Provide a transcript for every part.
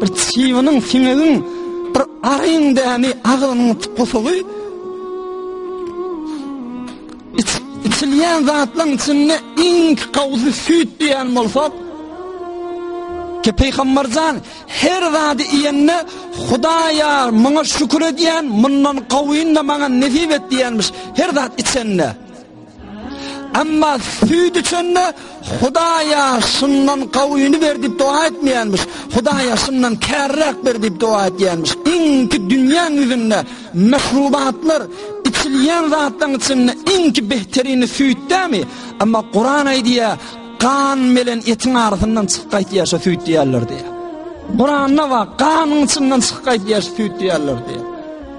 Bir çiwiniň, siňegiň, bir aryň dämi agynyň tukusugy. Içilýän zatlaryň içinde iň gowsy süýt diýen bolsa, Ki peygamberjan her zady iýende Hudaýa muňa şükür edýän, mundan gowuny da maňa nesip et diýenmiş. Her zat içende. Emma süýt içende Hudaýa şundan gawyny ber diýip doga etmeýänmiş. Hudaýa şundan kärräk ber diýip doga etýänmiş. Iňki dünýäň ýüzünde mehrubatlar içilýän zatlaryň içinde iňki behterini süýtdämi? Emma Kuran aýdýar, gan bilen etiň arasyndan çykyp gaýtýar şu süýt diýerler diýär. Kuranda bar, ganyň içinden çykyp gaýtýar şu süýt diýerler diýär.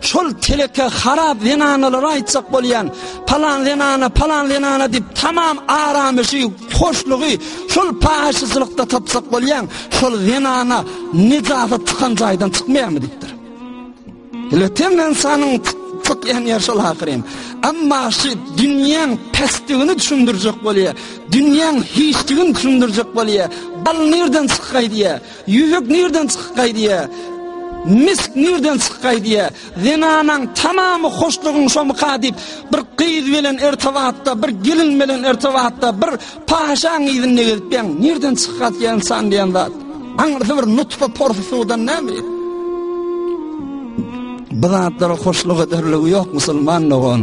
Şol teleke harap zenanalara aýtjak bolýan, palan zenana, palan zenana diýip tamam aramyşy, hoşlugy şol paşyçylykda tapjak bolýan, şol zenana nijasy çykan jaýdan çykmaýarmy diýipdir. Letem insanyň tık ýan ýer şol ahyrym. Amma şu dünýäň pesdigini düşündirjek bolýar. Dünýäň hiçdigini düşündirjek bolýar. Bal nirden çykaý diýär. Ýüzük nirden çykgaý diýýä. Misk nirden çykgaý diýýä. Zenanaň tamamy hoşlugyň şomyka diýip, bir gyz bilen ertabatda, bir gelin bilen ertabatda, bir paşaň yzynda gezip ýaň, nirden çykgaý diýen san diýen zat. Aňyrsy bir nutfa porsy suwdan näme? Bu zatlara hoşluk ederligi ýok musulman dogan.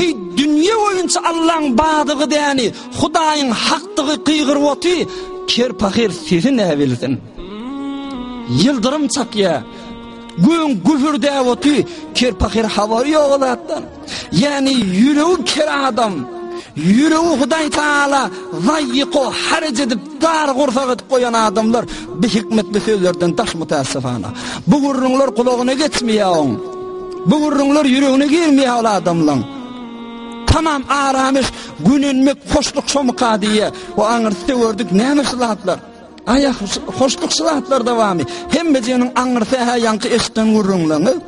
Eý, dünýe boýunça Allaň bardygy däni, Hudaýyň hakdygy gygyryp oty, ker pahyr sesi näbilsin. Ýyldyrym çakýa, göň gübürdäp oty, ker pahyr habary ýok zatdan. Ýani ýüregi ker adam, ýüregi Hudaý taala zaýyko haraj edip Dar gursak edip goýan adamlar bi hikmetli sözlerden daş mutassifana. Bu gürrüňler gulagyna geçmeýär oň. Bu gürrüňler ýüregine girmeýär ol adamlaň. Tamam aramyş, günenmek, hoşluk şomka diýýär. O aňyrsda gördük näme şylatlar. Aýa hoşluk şylatlar dowamy. Hemme jeniň aňyrsy hä ýaňky eşden gürrüňleňi.